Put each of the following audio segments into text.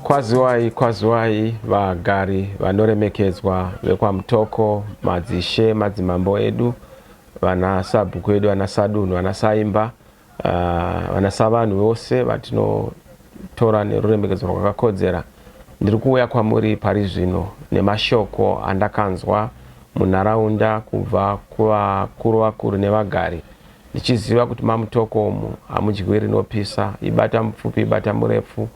Kwaziwai, kwaziwai vagari vanoremekedzwa vekwaMutoko, madzishe, madzimambo edu, vana sabhuku vedu, vana sadunhu, vana saimba, Vana savanhu vose vatinotora neruremekedzo rwakakodzera, ndiri kuuya kwamuri pari zvino nemashoko andakanzwa munharaunda kubva kuvakuru vakuru nevagari, ndichiziva kuti maMutoko umu hamudyiwi rinopisa, ibata mupfupi ibata murefu,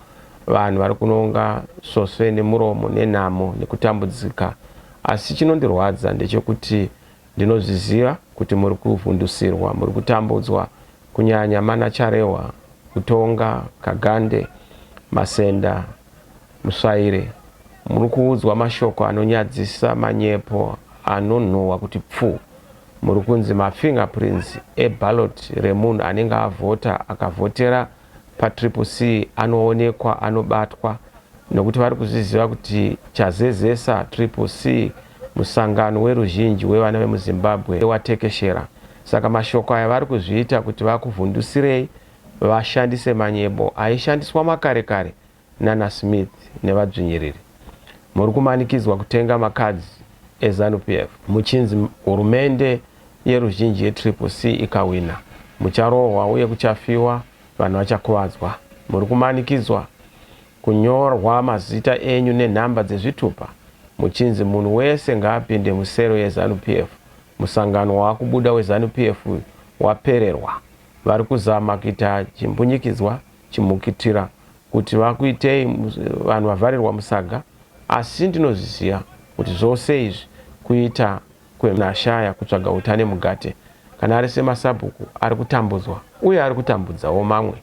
vanhu vari kunonga svosve nemuromo nenhamo nekutambudzika. Asi chinondirwadza ndechokuti Ndinozviziva kuti muri kuvhundusirwa, muri kutambudzwa, kunyanya mana Charehwa, Utonga, Kagande, Masenda, Musvaire. Muri kuudzwa mashoko anonyadzisa, manyepo anonhuhwa kuti pfu. Muri kunzi mafingerprints eballot remunhu anenge avhota, akavhotera paTriple C anoonekwa anobatwa nokuti vari kuzviziva kuti chazezesa Triple C musangano weruzhinji wevana vemuZimbabwe watekeshera. Saka mashoko aya vari kuzviita kuti vakuvhundusirei vashandise manyebo aishandiswa makare kare nana Smith nevadzvinyiriri muri kumanikidzwa kutenga makadzi eZanu PF muchinzi hurumende yeruzhinji yeTriple C ikahwina mucharohwa uye kuchafiwa, vanhu vachakuvadzwa. Muri kumanikidzwa kunyorwa mazita enyu nenhamba dzezvitupa muchinzi munhu wese ngaapinde musero yeZanu PF. Musangano wakubuda weZanu PF uyu wapererwa. Vari kuzama kuita chimbunyikidzwa chimhukitira kuti vakuitei vanhu vavharirwa musaga asi ndinozviziva kuti zvose izvi kuita kwenashaya kutsvaga uta nemugate kana ari semasabhuku ari kutambudzwa uye ari kutambudzawo mamwe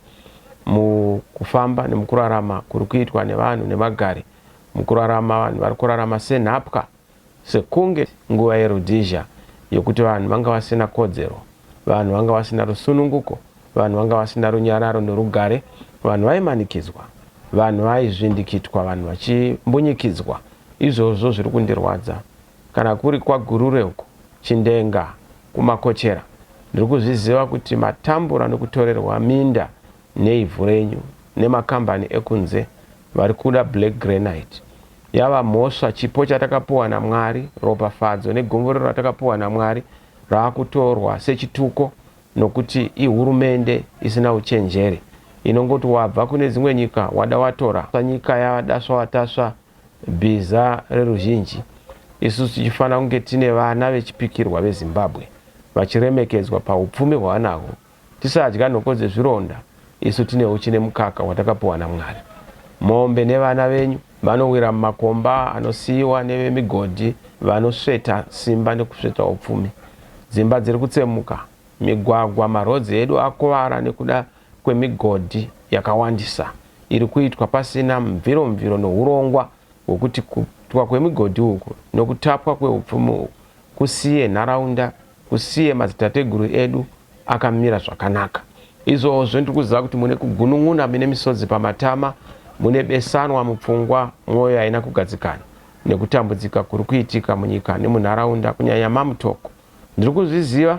mukufamba nemukurarama kuri kuitwa nevanhu nemagari mukurarama vanhu vari kurarama senhapwa Sekunge nguva yeRhodesia yokuti vanhu vanga vasina kodzero, vanhu vanga vasina rusununguko, vanhu vanga vasina runyararo norugare, vanhu vaimanikidzwa, vanhu vaizvindikitwa, vanhu vachimbunyikidzwa, izvozvo zviri kundirwadza. Kana kuri kwaGurure uko, Chindenga, kuMakochera, ndiri kuzviziva kuti matambura nokutorerwa minda neivhu renyu nemakambani ekunze vari kuda black granite. Yava mhosva, chipo chatakapuwa naMwari, ropafadzo negomborero ratakapuwa naMwari raakutorwa sechituko nokuti ihurumende isina uchenjeri inongoti wabva kune dzimwe nyika wada watora nyika yadasva watasva bhiza reruzhinji isusu tichifanira kunge tine vana vechipikirwa veZimbabwe vachiremekedzwa pahupfumi hwavanahwo Tisadya nhoko dzezvironda isu tine huchi nemukaka watakapiwa naMwari. Mombe nevana venyu vanowira mumakomba anosiiwa nevemigodhi vanosveta simba nekusveta upfumi. Dzimba dziri kutsemuka, migwagwa, maroads edu akuvara nekuda kwemigodhi yakawandisa iri kuitwa pasina mviromviro nehurongwa hwekuti kuitwa kwemigodhi uku nekutapwa kweupfumi uku kusiye nharaunda Usiye madzitateguru edu akamira zvakanaka izvozvo ndikuziva kuti mune kugunun'una mine misodzi pamatama mune besanwa mupfungwa mwoyo haina kugadzikana nekutambudzika kuri kuitika munyika nemunharaunda kunyanya mamutoko ndiri kuzviziva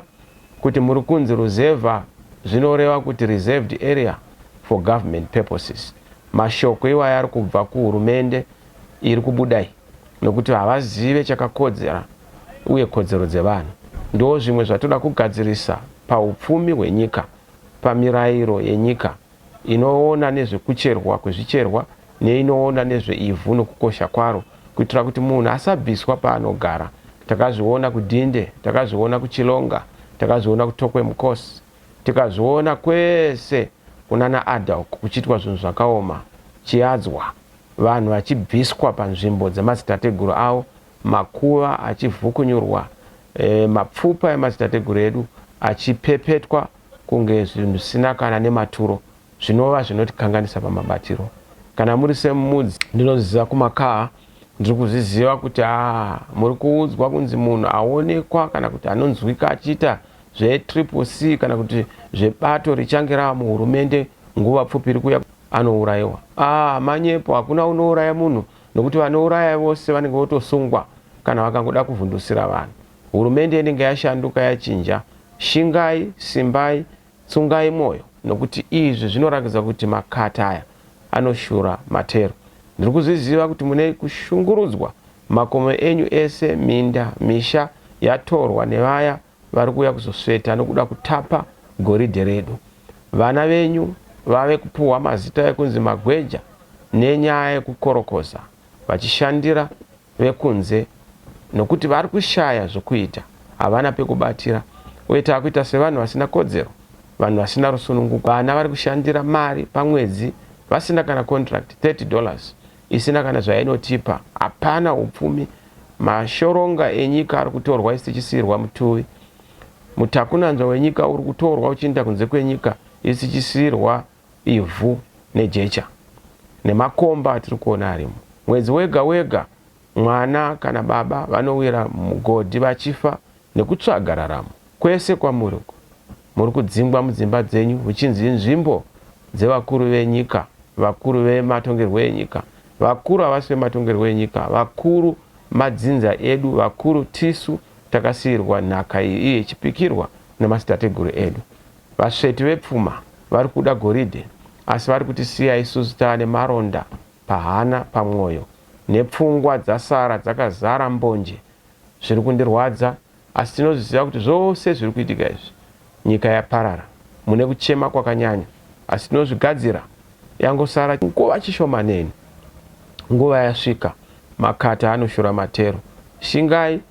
kuti muri kunzi ruzevha zvinoreva kuti reserved area for government purposes mashoko iwayo ari kubva kuhurumende iri kubuda iyi nokuti havazive chakakodzera uye kodzero dzevanhu. Ndozvimwe zvatoda kugadzirisa pahupfumi hwenyika pamirairo yenyika inoona nezvekucherwa kwezvicherwa neinoona nezveivhu nokukosha kwaro kuitira kuti munhu asabviswa paanogara. Takazviona kuDhinde, takazviona kuChilonga, takazviona kuTokwe Mkos, tikazviona kwese kunana Adda uko kuchiitwa zvinhu zvakaoma, Chiadzwa. vanhu vachibviswa panzvimbo dzemadzitateguru avo, makuva achivhukunyurwa, e, mapfupa emadzitateguru edu achipepetwa kunge zvinhu zvisina kana nematuro, zvinova zvinotikanganisa pamabatiro. Kana muri semudzi, ndinoziva kumakaa, ndiri kuzviziva kuti a ah, muri kuudzwa kunzi munhu aonekwa kana kuti anonzwika achiita zvetriple c kana kuti zvebato richange rava muhurumende nguva pfupi iri kuya anourayiwa aah manyepo hakuna unouraya munhu nokuti vanouraya vose vanenge votosungwa kana vakangoda kuvhundusira vanhu hurumende inenge yashanduka yachinja shingai simbai tsungai moyo nokuti izvi zvinorakidza kuti makata aya anoshura matero ndiri kuzviziva kuti mune kushungurudzwa makomo enyu ese minda misha yatorwa nevaya vari kuuya kuzosveta nokuda kutapa goridhe redu. Vana venyu vave kupuhwa mazita ekunzi magweja nenyaya yekukorokoza vachishandira vekunze nokuti vari kushaya zvokuita, havana pekubatira uye tava kuita sevanhu vasina kodzero, vanhu vasina rusununguko. Vana vari kushandira mari pamwedzi vasina kana contract, 30 dollars isina kana zvainotipa, hapana hupfumi, mashoronga enyika ari kutorwa isu tichisiirwa mutuvi, mutakunanzva wenyika uri kutorwa uchiinda kunze kwenyika isu tichisiirwa ivhu nejecha nemakomba atiri kuona arimo. Mwedzi wega wega mwana kana baba vanowira mugodhi vachifa nekutsvaga raramo. Kwese kwamuri uko. Muri kudzingwa mudzimba dzenyu huchinzi inzvimbo dzevakuru venyika, vakuru vematongerwo enyika. Vakuru havasi vematongerwo enyika, vakuru madzinza edu, vakuru tisu takasiirwa nhaka iyi iye ichipikirwa nemadzitateguru edu. Vasveti vepfuma vari kuda goridhe asi vari kutisiya isusu taane maronda pahana, pamwoyo nepfungwa dzasara dzakazara mbonje. Zviri kundirwadza Asi tinozviziva kuti zvose zviri kuitika izvi nyika yaparara mune kuchema kwakanyanya asi tinozvigadzira yangosara nguva chishomanene nguva yasvika makata anoshura matero shingai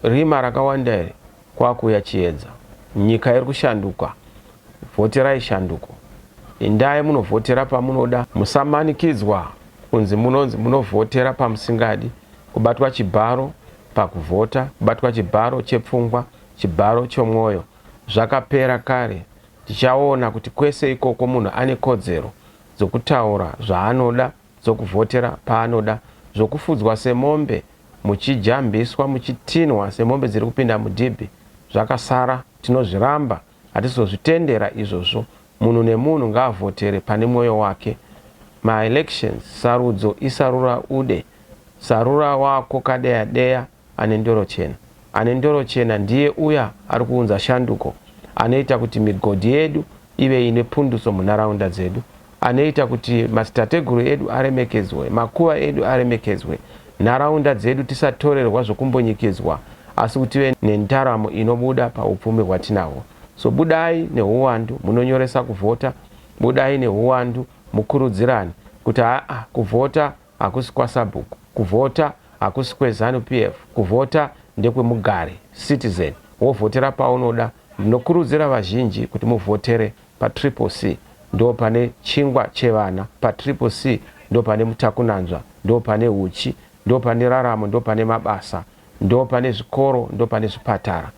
rima rakawanda iri kwakuuya chiedza nyika iri kushanduka vhoterai shanduko indai munovhotera pamunoda musamanikidzwa kunzi munonzi munovhotera pamusingadi kubatwa chibharo pakuvhota, kubatwa chibharo chepfungwa, chibharo chomwoyo zvakapera kare. Tichaona kuti kwese ikoko munhu ane kodzero dzokutaura zvaanoda, dzokuvhotera paanoda, zvokufudzwa semombe muchijambiswa, muchitinhwa semombe dziri kupinda mudhibhi. Zvakasara tinozviramba. Hatizozvitendera izvozvo. Munhu nemunhu ngaavhotere pane mwoyo wake. Ma elections, sarudzo isarura ude. Sarura wako kadeya deya ane ndoro chena. Ane ndoro chena ndiye uya ari kuunza shanduko. Anoita kuti migodhi yedu ive ine pundutso munharaunda dzedu. Anoita kuti madzitateguru edu aremekedzwe, makuva edu aremekedzwe, nharaunda dzedu tisatorerwa zvokumbunyikidzwa asi kuti tive nendaramo inobuda paupfumi hwatinahwo. So budai nehuwandu munonyoresa kuvhota, budai nehuwandu mukurudzirane kuti haa kuvhota hakusi kwasabhuku kuvhota hakusi kweZanu PF kuvhota ndekwemugari, citizen, wovhotera paunoda ndinokurudzira vazhinji kuti muvhotere paTriple C ndopane chingwa chevana paTriple C ndopane mutakunanzva ndopane huchi ndopane raramo ndopane mabasa ndopane zvikoro ndopane zvipatara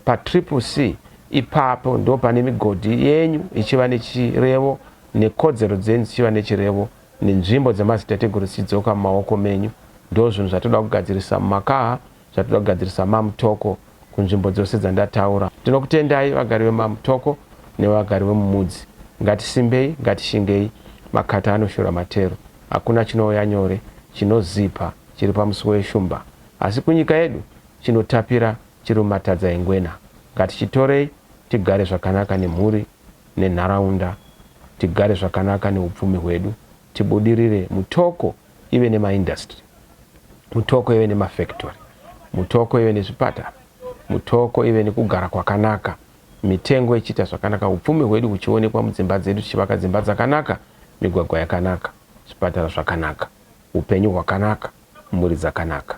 paTriple C ipapo ndopane migodhi yenyu ichiva nechirevo nekodzero dzenyu dzichiva nechirevo nenzvimbo dzemadzitateguru dzichidzoka mumaoko menyu. Ndozvinhu zvatinoda kugadzirisa mumakaha, zvatinoda kugadzirisa maMutoko kunzvimbo dzose dzandataura. Tinokutendai vagari vemaMutoko nevagari vemuMudzi. Ngatisimbei, ngatishingei, makata anoshura matero. Hakuna chinouya nyore, chinozipa, chiri pamusuwo weshumba. Asi kunyika yedu, chinotapira chiri mumatadza engwena. Ngatichitorei, tigare zvakanaka nemhuri. nenharaunda tigare zvakanaka neupfumi hwedu tibudirire mutoko ive nemaindustry mutoko ive nemafactory mutoko ive nezvipatara mutoko ive nekugara kwakanaka mitengo ichiita zvakanaka upfumi hwedu huchionekwa mudzimba dzedu tichivaka dzimba dzakanaka migwagwa yakanaka zvipatara zvakanaka upenyu hwakanaka mhuri dzakanaka